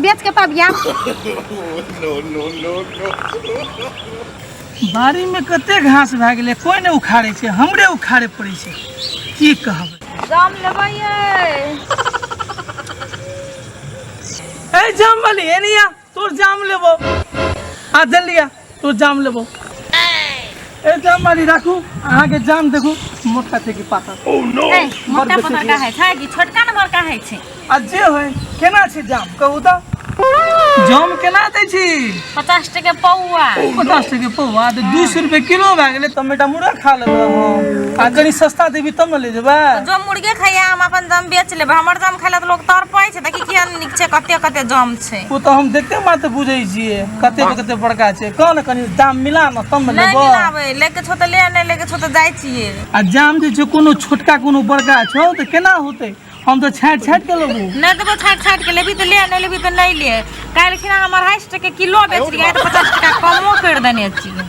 बेच के तब याम बाड़ी में कते घास भए गेलै कोई नहि उखाड़े छै हमरे उखाड़े पड़े छै की कहब जाम लेबै ए जाम वाली एनिया तोर जाम लेबो आ जल्दी आ तो जाम लेबो ए जाम मारी राखू अहाँ के जाम देखू मोटा छै कि पातर ए, मोटा बड़ पता का है था कि छोटका नंबर का है छे आ जे होय केना छै जाम कहू तऽ जाम केना दै छी पचास टके पौआ पचास टके पौवा तऽ दू सौ रुपये किलो भए गेलै तऽ बेटा मुर्गा खा लेबै हम आ कनी सस्ता देबी तब ने ले जेबै जो मुर्गे खाइया हम अपन दम बेच लेब हमर दम खाइला तो लोग तड़पै छै देखी किया छै कते कते जाम छै ओ तऽ हम देखते बात बुझै छियै कते कते बड़का छै कह ने कनी दाम मिला न तब ने लेबो मिलाबै लेके छो तऽ ले नहि लेके छो तऽ जाइ छियै आ जाम जे छै कोनो छोटका कोनो बड़का छौ तऽ केना होतै हम तऽ छाटि छाटि के लेबो नहि देबो छाटि छाटि के लेबी तऽ ले नहि लेबी तऽ नहि ले काल्हि खिना हम अढ़ाइ सए टके किलो बेच रहियै तऽ पचास टका कमो करि देने छियै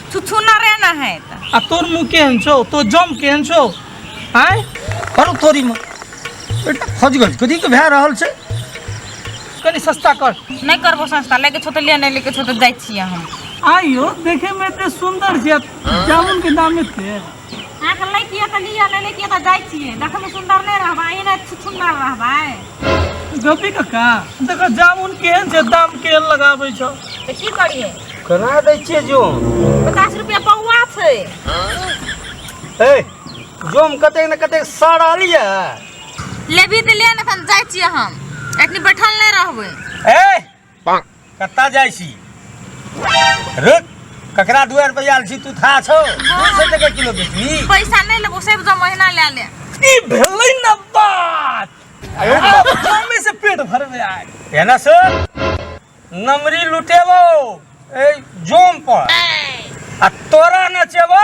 थुथु ना रे ना है त आ तोर मुंह केहन छौ तो जम केहन छौ आय करू तोरी में बेटा खोज गज कथी के भए रहल छै कनी सस्ता कर नहीं करबो संस्था लेके छो त ले नहीं लेके छो त जाय छियै हम आइयो देखे में एते सुंदर छै जामुन के दाम एते अहाँके लैतियै तऽ लिअ नहि लैतियै तऽ जाइ छियै देखैमे सुन्दर नहि रहबै एहने छुछुन्नर रहबै गपी कक्का देखो जामुन केहन छै दाम केहन लगाबै छौ तऽ की करियै कना दै छियै जोम पचास रुपया पौआ छै हे जोम कतेक ने कतेक सड़ल यऽ लेबी तऽ ले ने एखन जाइ छियै हम एखन बैठल नहि रहबै ए कत्ता जाइ छी रुक ककरा दुआर पर आयल छी तू था छौ दू सौ टके किलो बेचबी पैसा नहीं लेबो सब जो महीना ले ले ई भेलै न बात अब कामे से पेट भरबे आय है ना सर नमरी लुटेबो ए जोम पर आ तोरा नचेबो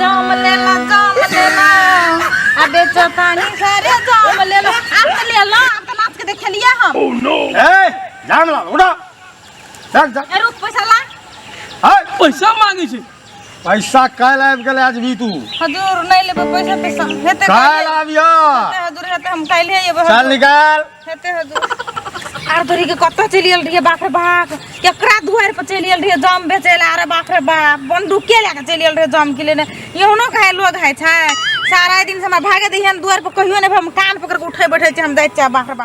जाम लेला जाम लेला आ बेचो तानी सारे जाम लेला अब तो लेला अब तो नाच के देखलिया हम ओह नो ए जाम ला उड़ा चल जा ए रुक पैसा ला हाय पैसा मांगे छे पैसा काल आबि गेलै आज भी तू हजूर नहीं लेबे पैसा पैसा हेते काल आबिया हजूर हेते हम काल्हि एबे चल निकाल हेते ह दू आर धरी के कत चलि गेल रहिए बाप रे बाप केकरा दुआर पर चलि गेल रहिए जम बेचे ला अरे बाप रे बाप बंदूके लए के चलि गेल रहिए जम के लेने यौनो खाए लोग है छै सारा दिन से हमरा भागे दिहन दुआर पर कहियो नहि हम कान पकड़ के उठे बैठे छै हम जाइ छियै बाप रे बाप